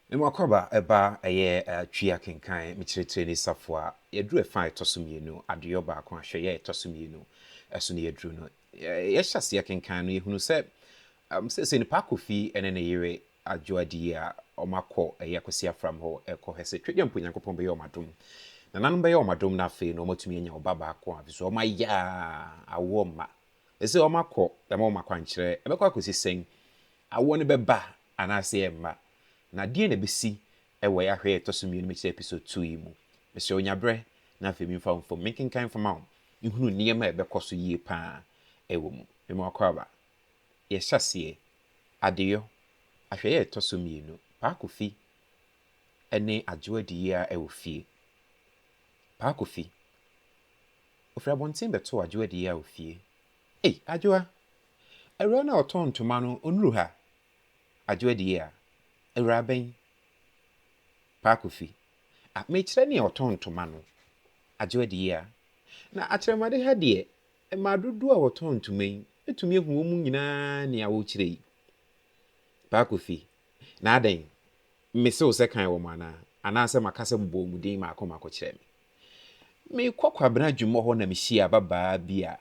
Me mu akɔaba ba ɛyɛ twi akenkan me kyerɛkyerɛ ni safoa yɛduru ɛfa a ɛtɔ so mmienu adeyɔ baako ahwɛyɛ a ɛtɔ so mmienu ɛso na yɛduru no yɛhyɛ aseɛ kenkan no yɛhunu sɛ um, sɛsɛ nipa akɔfi ɛne ne yere adwo adiyi a wɔn akɔ ɛyɛ akwasi afram hɔ ɛkɔ hɛ sɛ twɛdwa mpo nyankopɔn bɛyɛ wɔn adom nananom bɛyɛ wɔn adom na afei no wɔn atumi anya ɔba baako a so wɔn ayɛ a awoɔ mma ɛsɛ wɔn akɔ ɛma wɔn akwankyerɛ ɛbɛkɔ akɔsi sɛn awoɔ no bɛba Anaasɛ ɛmma? Na deɛn na ɛbɛsi wɔ yɛ ahwɛyɛ a ɛtɔ so mmienu mu kyerɛ episode two yi mu? Mesrɛ wo nya berɛ na afei memfa wo mfam menkenkan mfama wo nhunu nneɛma a ɛbɛkɔ so yie pa ara wɔ mu. Mema wo kwaaba. Yɛhyɛ aseɛ. Adeyɔ, ahwɛyɛ a ɛtɔ so mmienu, Paa Kofi ne Adwo adi yie ara wɔ fie. Paa Kofi, Ɔfiri abɔnten bɛtoo Adwo adi yie ara wɔ fie. Ei, Adwoa! Awuraa no a ɔtɔn ntoma no, onnuru ha? Adwoa di a, Awuraa bɛn? Paa Kofi, Ah, mekyerɛ nea ɔtɔn ntoma no. Adwoa di a, Na akyerɛmade ha deɛ, mmaa dodoɔ a wɔtɔn ntoma yi, mɛtumi ahu wɔn nyinaa nea wokyerɛ yi. Paa Kofi, Na adɛn? Mese wo sɛ kan wɔn anaa? Anaasɛ maka sɛ mobɔ wɔn din mmaako mmaako kyerɛ me? Mekɔ Kwabena adwumɔ hɔ na mehyia ababaa bi a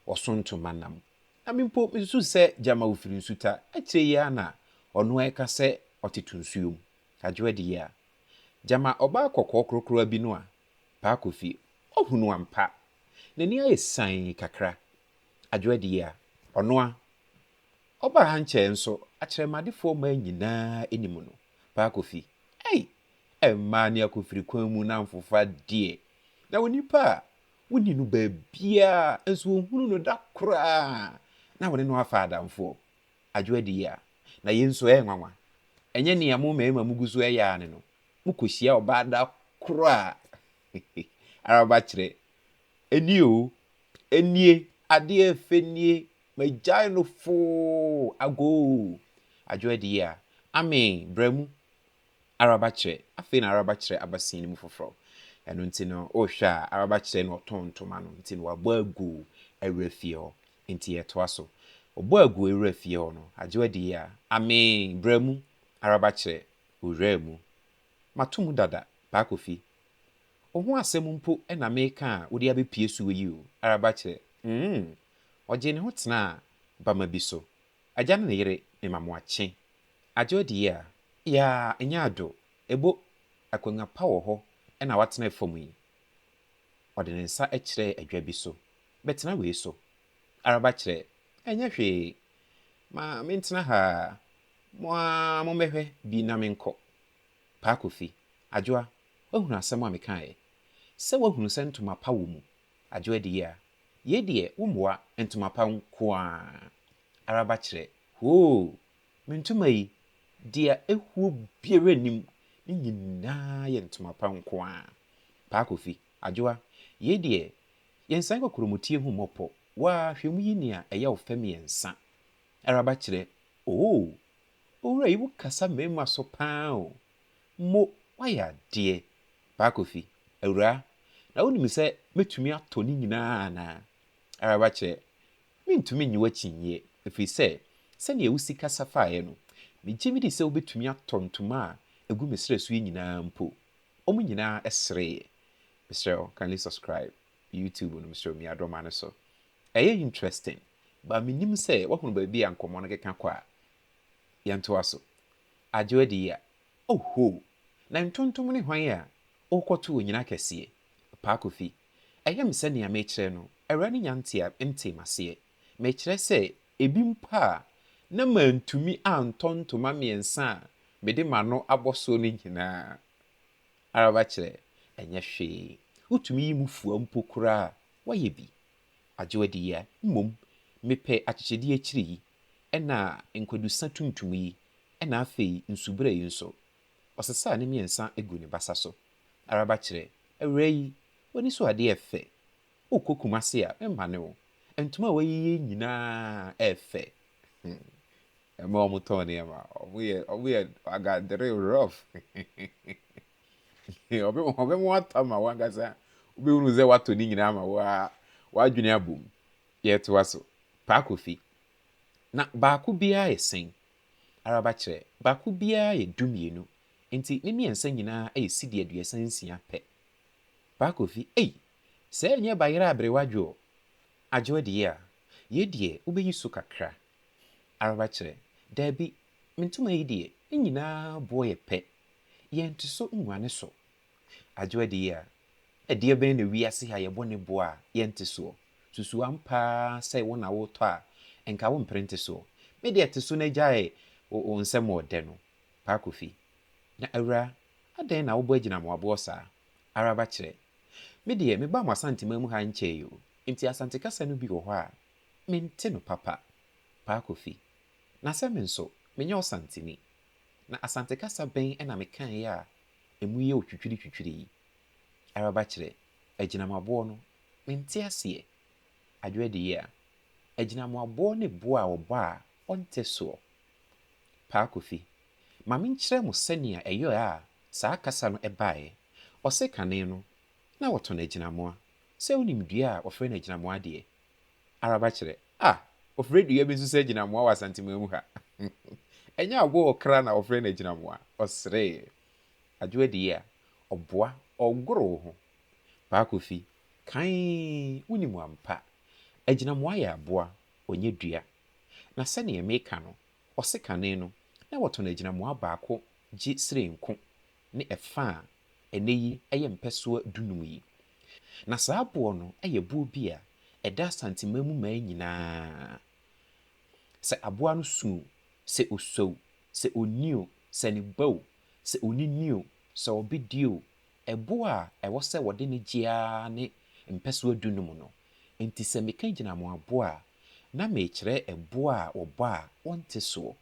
ɔso ntoma nam. Na me mpo mesusu sɛ gyama ofiri nsuta. Akyire yi ara na ɔno ara ɛka sɛ ɔtete nsuo mu. Adwoa de yi a, gyama ɔbaa kɔkɔɔ krokrowa bi no a, Paa Kofi, ɔhunu ampa. N'ani ayɛ sann kakra. Adwoa de yi a, ɔno ara ɔbaa ha nkyɛɛ nso akyerɛmadefoɔ mmaa nyinaa anim no, Paa Kofi, ei! Mmaa ne akofirikwan mu nnamfofa deɛ, na onipa a wonni no baabiara nso wɔnhunu no da koraa na wɔne no afa adamfoɔ. Adwo adi yi a, na yei nso ɛyɛ nwanwa. Ɛnyɛ nea mo mmarima mogu so yɛ ara ne no, mokɔhyia ɔbaa da koro a ara moakyerɛ nie o, nie, adeɛ fɛ nie, magyae no foo, agoo. Adwo adi yi a, amee, bra mu. Araba kyerɛ, afei na araba kyerɛ aba sin no mu foforɔ. Ɛno nti no, wohwɛ a, araba kyerɛ na ɔtɔn ntoma no nti no wabɔ agu awura fie hɔ. Nti yɛtoa so. Ɔbɔ agu awura fie hɔ no, Adwoa di a, Amee! Bra mu! Araba kyerɛ, Owuraa mu. Mato mu dada, Paa Kofi. Wo ho asɛm mpo na meka a wode abɛpue soɔ yi o! Araba kyerɛ, Mmmm! Ɔgyee ne ho tenaa bama bi so. Agya no ne yere mema mo akye. Adwo adie a, yaa ɛnyɛ ado, ebo Akonnwa pa wɔ hɔ na watena fam yi. Ɔde ne nsa kyerɛɛ adwa bi so. Bɛtena wei so. Araba kyerɛ, Ɛnyɛ hwee. Ma mentena ha ara. Mo ara mommɛhwɛ bi na menkɔ. Paa Kofi, Adwoa, woahunu asɛm a mekaeɛ? Sɛ woahunu sɛ ntoma pa wɔ mu Adwo adiyi a, yei deɛ wo mmoa ntoma pa nkoaa ara ba kyerɛ hoo! Me ntoma yi, deɛ ɛhuo biara nnim, ne nyinaa yɛ ntoma pa nkoaa. Paa Kofi, Adwoa, yei deɛ yɛnsan kɔkorɔmutie hu mmɔpɔ waa hwɛ mu yi nea ɛyɛ wo fɛ mmiɛnsa ara ba kyerɛ oo! Owura yi wo kasa mmarima so paa oo! Mo, woayɛ adeɛ! Paa Kofi, Awuraa, na wonim sɛ mɛtumi atɔ ne nyinaa anaa? Araba kyerɛ, Mentumi nnye w'akyinnyeɛ, ɛfiri sɛ, sɛdeɛ wo sika safaeɛ no, megye medi sɛ wobɛtumi atɔ ntoma a ɛgu me serɛ so yi nyinaa mpo. Wɔn nyinaa sereeɛ. Mesrɛ wo, kindly subscribe YouTube no, mesrɛ wo, mia do ma no so. Ɛyɛ interesting, but mennim sɛ woahunu baabi a nkɔmmɔ no keka kɔ a? Yɛntoa so. Adwo Adiyia, Oho! Na Ntontom ne hwan a wokɔto onyina kɛseɛ? Paa Kofi, Ɛyɛ me sɛ nea mekyerɛ no awuraa no nya ntea ntee m'aseɛ. Mekyerɛ sɛ ebi mpo a na mantumi antɔ ntoma mmiɛnsa a mede m'ano abɔ soɔ no nyinaa ara bɛkyerɛ ɛnyɛ hwee. Wotumi yi mu fua mpo koraa a, woayɛ bi. Adwo Adiyia, Mmom mepɛ akyekyedeɛ akyiri yi. na nkwadusã tuntum yi, na afei nsubura yi nso. Ɔsesaa ne mmiɛnsa gu ne basa so. Araba kyerɛ, Awuraa yi, w'ani so adeɛ yɛ fɛ. Wokɔ Kumasi a, memmane wo. Ntoma a woayeyɛ nyinaa yɛ fɛ. Hmm. Mmaa a wɔtɔn nneɛma, wɔyɛ, wɔyɛ agadere rough. Wɔbɛma woatɔ ama wo ankasa, wobɛhunu sɛ woatɔ ne nyinaa ama wo ara, w'adwene abom. Yɛtoa so, Pa Kofi, Na baako biara yɛ sɛn? Araba kyerɛ, Baako biara yɛ dumienu, enti ne mmiɛnsa nyinaa yɛ cedi aduasa nsia pɛ. Pa Kofi, Ei! Sɛɛ nyɛ bayerɛ aberewa dwo o! Adwo adie a, yei deɛ wobɛyi so kakra. Araba kyerɛ, Daabi, me ntoma yi deɛ, ne nyinaa boɔ yɛ pɛ. Yɛnte so nguane so, Agye wo adie a, ɛdeɛ bɛn na wiase ha yɛbɔ ne boɔ a yɛnte soɔ? Susu ampa ara sɛ wo na wotɔ a, nka wompere nte soɔ? Me deɛ te so na gyae wo nsɛm wɔ dɛ no, Paa Kofi. Na awura, adɛn na wobɔ agyina mo aboɔ saa? Araba kyerɛ. Me deɛ mebaa mo Asanteman mu ha nkyɛe o, nti Asante kasa no bi wɔ hɔ a, mente no papa, Paa Kofi. Na sɛ me nso, menyɛ Ɔsanteni. Na Asante kasa bɛn na mekaeɛ a emu yɛ otwitwiritwitwiri yi ara ba kyerɛ agyinamoaboɔ no? Mente aseɛ. Adwerɛ de yea. Agyinamoaboɔ ne boɔ a ɔbɔ a ɔnte soɔ. Paa Kofi, ma menkyerɛ mo sɛnea ɛyɔɛ a saa kasa no baeɛ. Ɔse kane no, na wɔtɔn agyinamoa. Sɛ wonim dua a wɔfrɛ no agyinamoa deɛ, Araba kyerɛ. Ah! Wɔfrɛ dua bi nso sɛ agyinamoa wɔ Asanteman mu ha. Ɛnyɛ aboɔ a ɔkra na wɔfrɛ no agyinamoa. Ɔsree. Adwo adie a, ɔboa, ɔgoro wo ho. Paa Kofi, Kae, wonim ampa. Agyinamoa yɛ aboa, ɔnyɛ dua. Na sɛdeɛ meka no, ɔsekane no, na wɔtɔn agyinamoa baako gye sree nko. ne ɛfã a ɛnnɛyi ɛyɛ mpɛsoa dunum yi. Na saa boɔ no yɛ boɔ bi a ɛda Asanteman mu mmaa nyinaa. Sɛ aboa no su o, sɛ ɔsua o, sɛ ɔnni o, sɛ ne ba o, sɛ ɔne ni o, sɛ ɔbedie o, ɛboɔ a ɛwɔ sɛ wɔde no gye ara ne mpɛsoa dunum no. Enti sɛ meka gyinamoaboɔ a, na merekyerɛ ɛboɔ a wɔbɔ a wɔnte soɔ.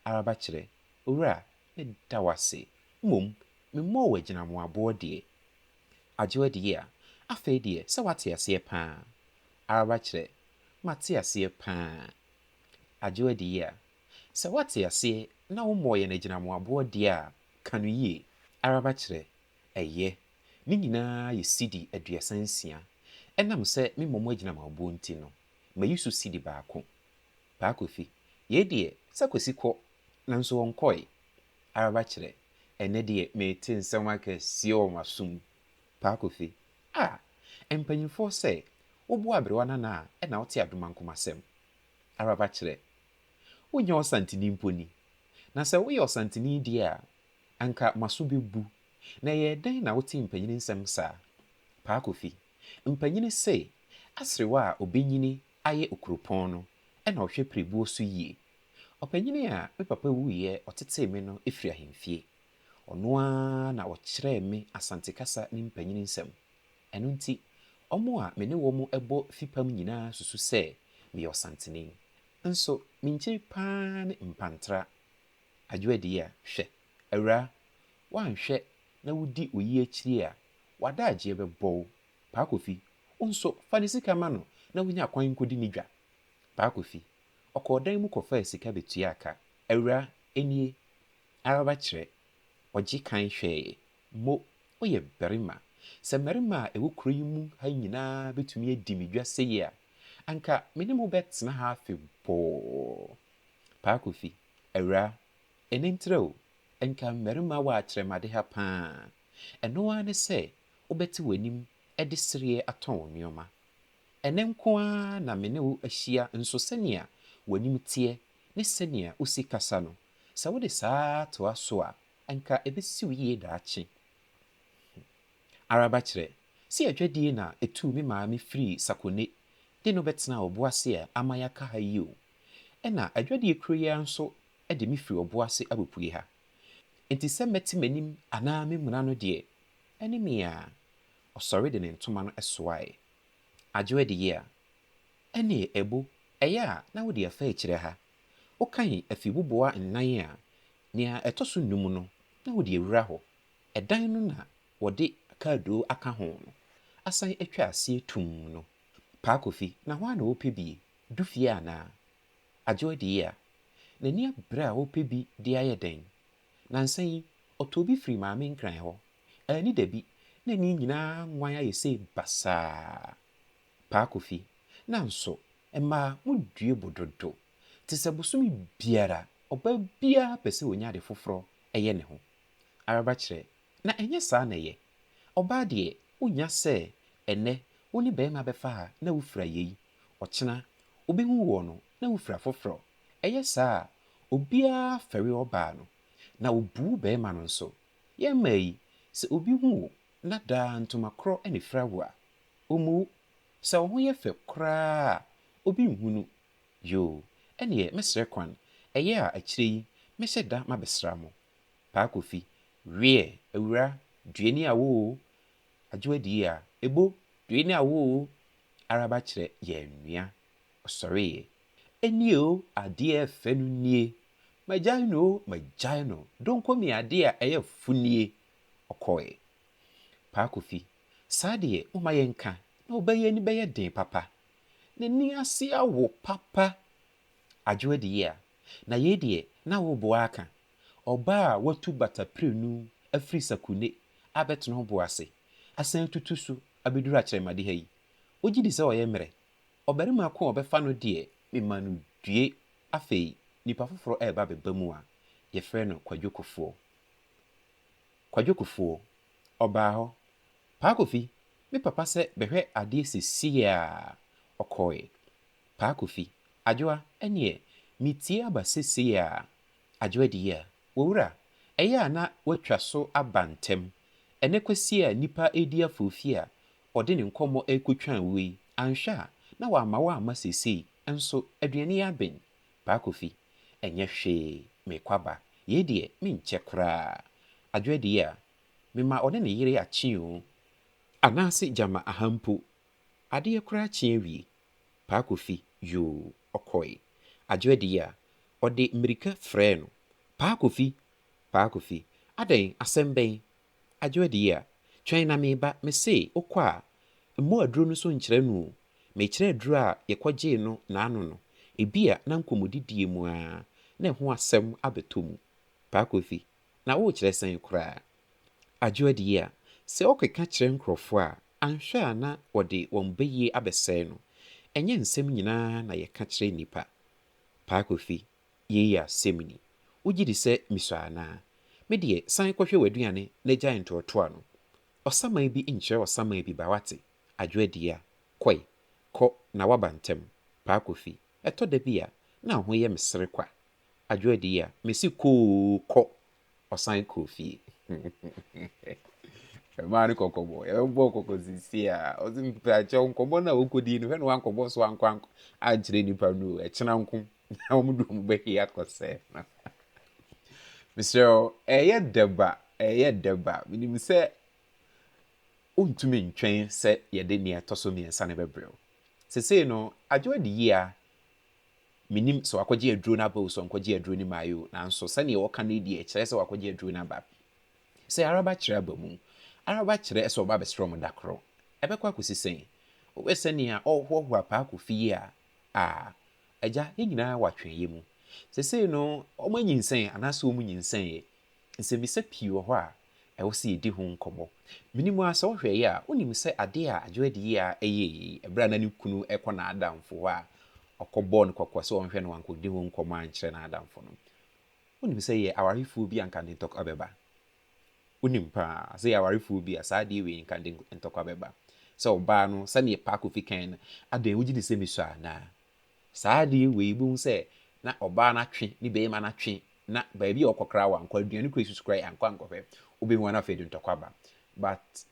Araba kyerɛ, Owura, Meda wo ase, mmom memmɔɔ wo agyinamoaboɔ deɛ, agye w'adiyie a, afei deɛ sɛ woate aseɛ pa ara, araba kyerɛ, mate aseɛ pa ara, agye w'adiyie a, sɛ woate aseɛ na wommɔɔ yɛn agyinamoaboɔ deɛ a, ka no yie, araba kyerɛ, ɛyɛ, ne nyinaa yɛ cedi aduasa nsia, ɛnam sɛ memmɔ mo agyinamoaboɔ nti no, mayi so cedi baako. Paa Kofi, Yei deɛ sɛ Kwasi kɔ nanso ɔnkɔe ara ba kyerɛ ɛnnɛ deɛ mete nsɛm akɛseɛ wɔ m'asom mu. Paa Kofi, Ah! Mpanyimfoɔ sɛ woboa aberewa no anaa ɛna wote adomankoma asɛm ara ba kyerɛ. Wonyɛ ɔsantini mpo ni. Na sɛ woyɛ ɔsantini deɛ a anka m'aso bɛbu. Na ɛyɛɛ dɛn na wote mpanyini nsɛm saa? Paa Kofi, Mpanyini se aserewa a ɔbɛnyini ayɛ okuropɔn no na ɔhwɛ pirebuo so yie. Ɔpanyin a me papa wuiɛ ɔtetee me no firi ahemfie. Ɔno ara na ɔkyerɛɛ me Asante kasa ne mpanyin nsɛm. Ɛno nti, wɔn a me ne wɔn bɔ fipam nyinaa susu sɛ meyɛ Ɔsanteni. Nso me nkyiri pa ara ne Mpantra. Adwoadiya, hwɛ, awuraa, woanhwɛ na wodi wo yea akyiri a, w'adaagyeɛ bɛbɔ wo Paa Kofi, wo nso, fa ne sika ma no na wonya kwan nkɔdi ne dwa. Paa Kofi, ɔkɔɔ dan mu kɔfaa sika bɛtuaa ka. Awuraa, nie. Ara wakyerɛ. Ɔgye kan hwɛeɛ. Mo, woyɛ barima. Sɛ mmarima a ɛwɔ kuro yi mu ha nyinaa bɛtumi adi me dwa sei a, anka me ne mo bɛtena ha afe bɔɔ. Paa Kofi, Awuraa, ɛnɛ ntrɛ o, nka mmarima wɔakyerɛ m'ade ha paa. Ɛno ara ne sɛ wobɛte w'anim de sereɛ atɔn wo nneɛma. Ɛnnɛ nko ara na me ne wo ahyia nso sɛnea w'anim teɛ ne sɛnea wosi kasa no, sɛ wode saa ara toa so a, anka ɛbɛsi wo yie daakye. Hmm. Araba kyerɛ sɛ adwadie na ɛtuu me maame firii Sakone de no bɛtenaa Ɔboase a ama yɛaka ha yi o. Ɛna adwadie kuro yi ara nso de me firi Ɔboase abɛpue ha. Enti sɛ mɛte m'anim anaa memuna no deɛ, ɛne me a. Ɔsɔre de ne ntoma no soae. Adwo adiyi a. Ɛnneɛ ɛbo, ɛyɛ a na wode afa akyire ha. Wokan afibuboa nnan a, nea ɛtɔ so nnum no, na wode awura hɔ. Ɛdan no na wɔde akaadoo aka ho no, asan atwa aseɛ tumm no. Paa Kofi, na hɔ ara na wopɛ bi? Du fie anaa? Agyew adi yi a, n'ani abere a ɔrepɛ bi de ayɛ dɛn? Nnansa yi, ɔtɔɔ bi firii Maame Nkran hɔ. Anni dabi, na ani nyinaa nwan ayɛ sei basaa. Paa Kofi, Nanso, mmaa, modue bo dodo. Te sɛ bosome biara, ɔbaa biara pɛ sɛ ɔnya ade foforɔ yɛ ne ho. Araba kyerɛ, Na ɛnyɛ saa na ɛyɛ. Ɔbaa deɛ, wonnya sɛ ɛnnɛ wo ne barima bɛfa ha na wofira yei Ɔkyena, wobehu woɔ no na wofiri afoforɔ. Ɛyɛ saa a, obiara fɛre ɔbaa no, na obu barima no nso. Yɛn mmaa yi, sɛ obi hu wo na daa ntoma korɔ na efira wo a, ommu wo. Sɛ wo ho yɛ fɛ koraa a obi nhu no. Yoo, ɛnneɛ mɛsrɛ kwan, ɛyɛ a akyire yi mɛhyɛ da mabɛsra mo. Paa Kofi, Wiɛ, awura, due ne awo o, Adwoa Diia, ebo, due ne awo o, araba kyerɛ yɛn nua, ɔsɔreeɛ. Ɛnnie o, adeɛ fɛ no nie, magyae no o, magyae no, donko me adeɛ a ɛyɛ fo nie, ɔkɔɔɛ. Paa Kofi, saa deɛ momma yɛnka na ɔbaa yi ani bɛyɛ den papa, n'ani ase awo papa, Adwoa Diyia, na yei deɛ na wo boa aka. Ɔbaa a watu bata pirenu afiri Sakune abɛtena ɔbo ase asan atutu so abɛduru akyerɛmade ha yi, wogye di sɛ ɔyɛ mmerɛ? Ɔbarima ko a ɔbɛfa no deɛ mema no due afei nipa foforɔ reba abɛba mu a yɛfrɛ no Kwadwo Kofoɔ. Kwadwo Kofoɔ, Ɔbaa hɔ, Paa Kofi, me papa sɛ bɛhwɛ adeɛ seesei a, ɔkɔeɛ. Paa Kofi, Adwoa, ɛnneɛ metie aba seesei a, Adwoadi yi a wɔwura ɛyɛ a na wɔatwa so aba ntɛm. Ɛnnɛ Kwasi a nnipa redi aforofie a ɔde ne nkɔmmɔ rekɔtwa awuo yi, anhwɛ a na wamma wamma seesei nso aduane yi aben. Paa Kofi, Ɛnyɛ hwee, merekɔ aba. Yei deɛ, menkyɛ koraa. Adwoadi yi a, mema ɔne ne yere akye oo. Anaase gyama aha mpo, adeɛ koraa kye awie. Paa Kofi, yoo, ɔkɔe. Adwo adi yi a, ɔde mmirika frɛɛ no, Paa Kofi! Paa Kofi! Adɛn, asɛm bɛn? Adwo adi yi a, twɛn na mereba, mese wokɔ a, mmɔ aduro no so nkyerɛ no o. Mekyerɛ aduro a yɛkɔgyee no n'ano no, ebia na nkɔmmɔdidie mu ara na ɛho asɛm abɛtɔ mu. Paa Kofi, na worekyerɛ sɛn koraa? Adwo adie a, sɛ ɔkeka kyerɛ nkorɔfoɔ a, anhwɛ a na wɔde wɔn bayie abɛsɛe no. Ɛnyɛ nsɛm nyinaa na yɛka kyerɛ nnipa. Paa Kofi, yei yɛ asɛm ni. Wogye di sɛ mesua anaa? Me deɛ, san kɔhwɛ w'aduane na gyae ntoatoa no. Ɔsaman bi nkyerɛ ɔsaman bi ba, wate? Adwo adie a, kɔe, kɔ na woaba ntɛm. Paa Kofi, ɛtɔ da bi a, na wo ho yɛ me sere kwa. Adwo adie a, mese kɔ oo, kɔ ɔsan kɔɔ fie. Ɛmaa no kɔkɔbɔ. Yɛbɛbɔɔ kɔkɔ sisi a, ɔse mpakyɛw nkɔmmɔ no a wokɔdii no, hwɛ na wankɔbɔ so ankɔ ankyerɛ nnipa no o. Ɛkyena nko na wɔn de wɔn bɛhwe akɔsɛe no. Mesrɛ wo, ɛyɛ dɛba, ɛyɛ dɛba. Menim sɛ wontumi ntwɛn sɛ yɛde nea ɛtɔ so mmiɛnsa no bɛbrɛ wo. Sesei no, Adwoa de yea Mennim sɛ wakɔgye aduro no aba o, sɛ ɔnkɔgyee aduro no mmaeɛ o, nanso sɛdeɛ wɔka no yi deɛ, ɛkyerɛ sɛ wakɔgye aduro no aba. Sɛ araba kyerɛ aba mu, araba kyerɛ sɛ ɔba abɛsrɛ mo da koro. Ɛbɛkɔ akɔsi sɛn? Wohwɛ sɛdeɛ ɔrehoahoa paako fie a, ah, Agya, yɛn nyinaa wɔ atweneeɛ mu. Seesei no, wɔanyinsɛn anaasɛ wɔnyinsɛneeɛ, Nsɛmmisa pii wɔ hɔ a ɛwɔ sɛ yedi ho nkɔmmɔ. Menim ara sɛ wohwɛ yi a, wunim sɛ ade a Adjo adi yi ara yɛe yi, bere a na ne kunu rekɔ n'adamfo hɔ a, ɔkɔbɔɔ no kɔkɔ sɛ ɔnhwɛ no wankodi ho nkɔmmɔ ankyerɛ n'adamfo no. Wunim sɛ yɛ awarefoɔ bi a anka ne ntɔkwa bɛba. Wunim pa ara sɛ yɛ awarefoɔ bi a saa adeɛ wei anka ne ntɔkwa bɛba. Sɛ ɔbaa no, sɛnea Paako fi kae no, adɛn wogye di sɛ mesua anaa? Saa adeɛ wei wobɛhu sɛ na ɔbaa no atwe ne barima no atwe na baabi a ɔkɔ koraa wankɔ, aduane koraa asusu koraa ankɔ ankɔhwɛ, wobɛhu a na afei de ntɔkwa aba. But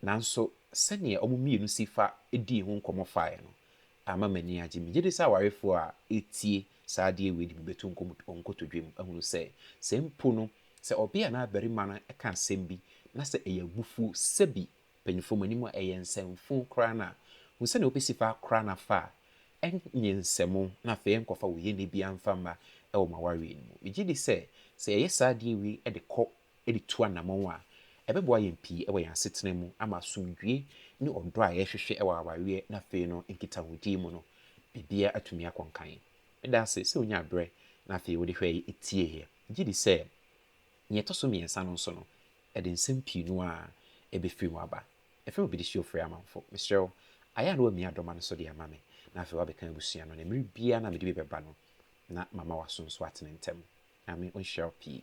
nanso sɛdeɛ wɔn mmienu si fa dii ho nkɔmmɔ faeɛ no ama m'ani agye. Megye di sɛ awarefoɔ a ɛtie saa adeɛ wei de bi bɛtu wɔn nkotodwam ahunu sɛ, sɛ mpo no sɛ ɔbea anaa barima no ka asɛm bi na sɛ ɛyɛ abufuo sɛbi mpanyimfo mu anim a ɛyɛ nsɛmfo koraa no a, hu sɛnea wobesi fa akora no afa a ɛnyɛ nsɛmmo na afei nkɔfa wo yɛnne biara mfa mma wɔ ma woawie no mu. Migye di sɛ, sɛ yɛyɛ saa de wie de kɔ de tu anammɔn a, ɛbɛboa yɛn pii wɔ yɛn asetena mu ama asomdwoe ne ɔdɔ a yɛhwehwɛ wɔ awareɛ ne afei no nkitahodi mu no biribiara atumi akɔ nkan. Meda ase sɛ wunyaa berɛ na afei wode hwɛeɛ tieeɛ. Megye di sɛ nea ɛtɔ so mmiɛnsa no nso no, Ɛde nsɛm pii no ara befiri mu aba. Ɛfɛ na obi de hyɛ ofiri amanfo. Mesrɛ wo, ayɛ a na wamia adɔma no so de ama me, na afei wabɛka abusua no, na mmere biara na mede bi bɛba no, na mama w'aso nso atene ntɛm. Nyame nhyira wo pii.